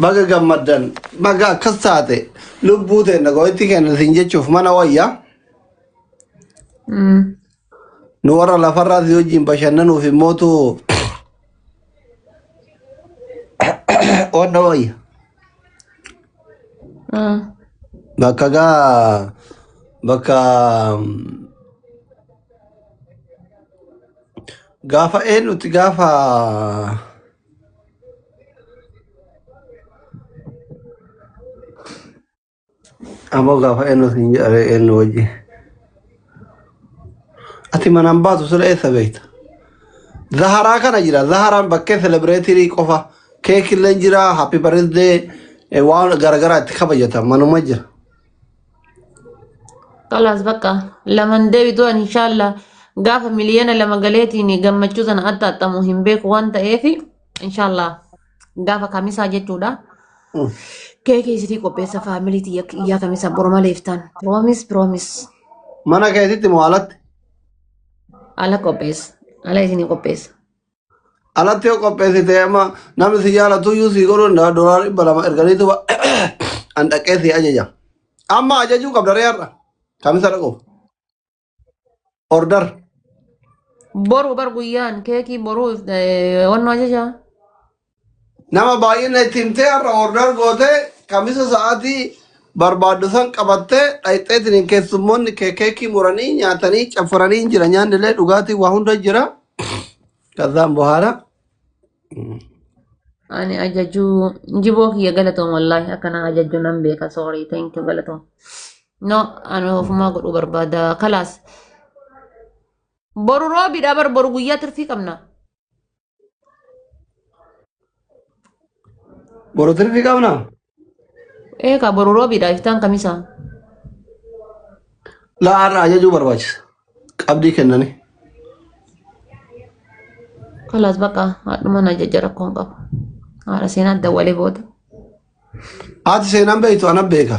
Baga gammaddan baga akkas taate lubbuu teenna gooyittii keenya siin jechuuf mana wayya Mm. nu warra lafarraa si wajjin bashannanuuf immootu onna wayya Mm. bakka gaa bakka gaafa eenyuti gaafa Ammoo gaafa eenyu siin jedhee eenyu wajji. Ati manaan baatu sila eessa beekta? Zaharaa kana jira. Zaharaan bakkee selebireetirii qofa. Keekillee jira. Happy birthday. eh, Waan garaagaraa itti kabajata. Manuma jira. Kalaas bakka laman deebitu ani inshaalla gaafa miliyoona lama galeetiin gammachuu sana adda axxamu hin beeku waan ta'eef inshaalla gaafa kamisaa jechuudha. Keekii isitii qopheessa faamilii tiyya iyyaa kamisa boroma leeftaan. Piroomis piroomis Mana keetitti moo alatti? ala qopheessa ala isinii qopheessa. alatti yoo qopheessite amma namni si jaalatu iyyuu sii godhuu danda'a doolaara dhibba lama erganiitu ba- an dhaqee sii ajaja amma ajajuu qabda ree har'a kamisa dhaquuf order Boru bar guyyaan keekii boru eh, wannoo ajajaa. Nama baay'ina itti himtee har'a order gootee kamisa sa'aatii barbaaddu san qabattee dhayxeetiin hin keessummoonni kee keekii muranii nyaatanii caffaranii hin jira nyaanni illee dhugaatiin waa hunda jira. Kazaan bohaara. Ani ajajuu jiboo kiyya galatoom wallaahi akkana ajajuu nan beeka sorry thank you galatoom. No ani ofumaa godhuu barbaada kalaas. Boru roobidha bar boru guyyaa tirfii qabna. Boru tirfi qabna. Eega boru roobiidha iftaan kamisaa. Laa har'a ajajuu barbaachisa. Qabdii kennani. Kalaas baqa haadhuma na jajja rakkoon qabu. Haadha seenaa adda walee booda. Haati seenaan beektu ana beeka.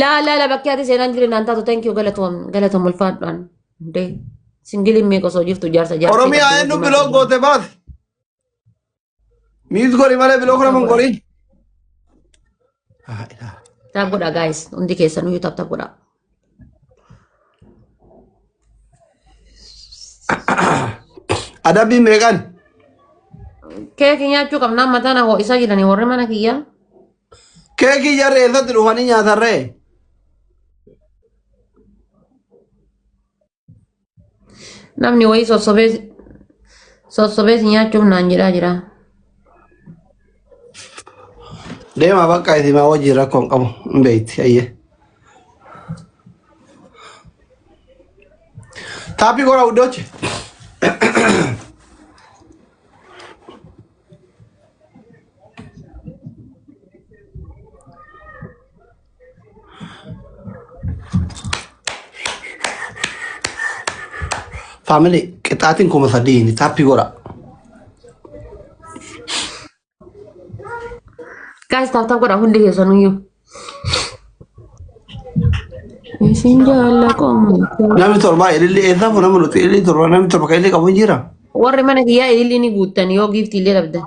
Laa laa laa bakkee ati seenaan jireenya naan taatu thank you galatoom galatoom ulfaadhaan. Dee singiliin meeqa osoo jirtu jaarsa jaarsa. Oromiyaa eenyu biloo goote baasi. Miis godhi malee biloo kana mun godhi. Taab godhaa guys hundi keessanuu yoo taab taab godhaa. Adabbii meeqan? Keeki nyaachuu qabnaa mataa na ho'isaa jiranii warri mana kiyyaa. Keekii jarri eessatti dhufanii nyaatarree? Namni wayii sossobee sossobee si nyaachuuf naan jedhaa jira. Deemaa bakka isin maa wajjin rakkoo hin qabu hin beekti ayyee. Taappii goraa wuddooche. Faamilee qixaatiin kuma sadiini taappii godha. Guys, taaf taaf godha hundi keessaniyyuu. Isin jaalala qomoo. Namni torba ililli eessaaf nama nuti ililli torba namni torba kan ililli qabu hin jira. Warri mana kiyyaa ililli ni guuttan yoo giiftii illee dhabdan.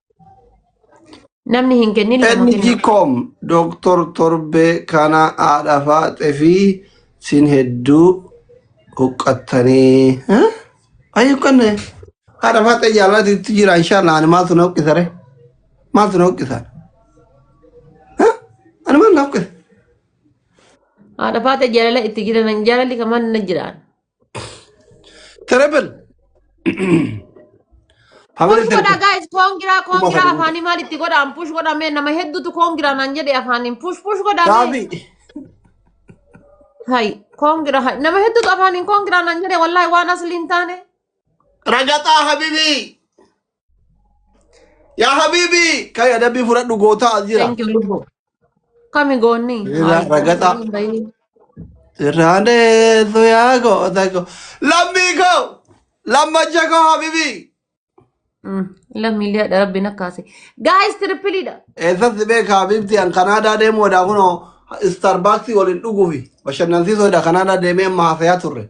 Namni hin kennin nama kenna. Enjikom Dooktor Torbee kana haadha faaxe fi sin hedduu huqqattanii. Ayi huqqanne haadha faaxe jaalalaatti itti jira inshaallaa ani maaltu na huqqisa re? Maaltu na huqqisa? Ani maal na huqqisa? Haadha faaxe jaalala itti jiran jaalalli kamaan na jiraan. Terrible. Family Push godha terrible. guys koongiraa Kuma koongiraa sadii. afaanii maal itti godhaan push godha mee nama hedduutu koongiraa naan jedhe afaaniin push push godha mee Gaaffii. hay koongiraa hay nama hedduutu afaaniin koongiraa naan jedhe wallaahi waan asliin taane Ragaxaa habibii. Yaa habiibii kan adabbii fudhadhu gootaa as jira. Thank you lubbu. Kami goonni? Irraa ragataa. Hin bahin. Sirraa deessu yaa goota koo. Lammii koo. Lammacha koo habiibii. Mm, Lammiilee adha rabbiin akkaase. Guys trippiliidha. Eessatti beeka habiibti an Kanaadaa deemuu odaa kunoo Starbucks waliin dhuguufi bashannansiisoo odaa Kanaadaa deemee amma haasayaa turre.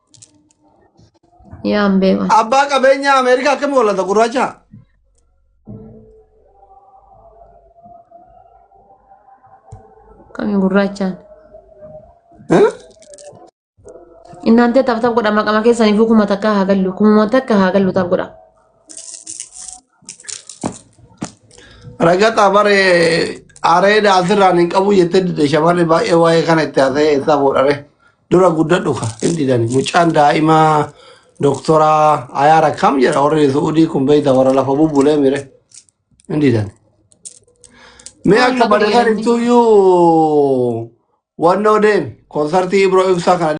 Yaa hin beekan. Abbaa qabeenyaa Ameerikaa akkami walata gurraacha? Kami gurraachaan. Eh? Innaan tee taaf taaf godha maqama keessaniif kuma takka haa gallu kuma takka haa gallu taaf godha. Ragata bare areeda asirraan hin qabu jettee dide shamarri baay'ee waa'ee kana itti haasa'ee eessaa fuudhare. Dura guddadhu ka hin didani. Mucaan daa'imaa doktoraa ayaara kam jedha warri Su'udii kun beeyta warra lafa bubbulee mire hin didani. Mee Waan akka na godhe barreessan inni. ibsuuyyuu wannoo deemi. Konsartii Ibro Ibsaa kana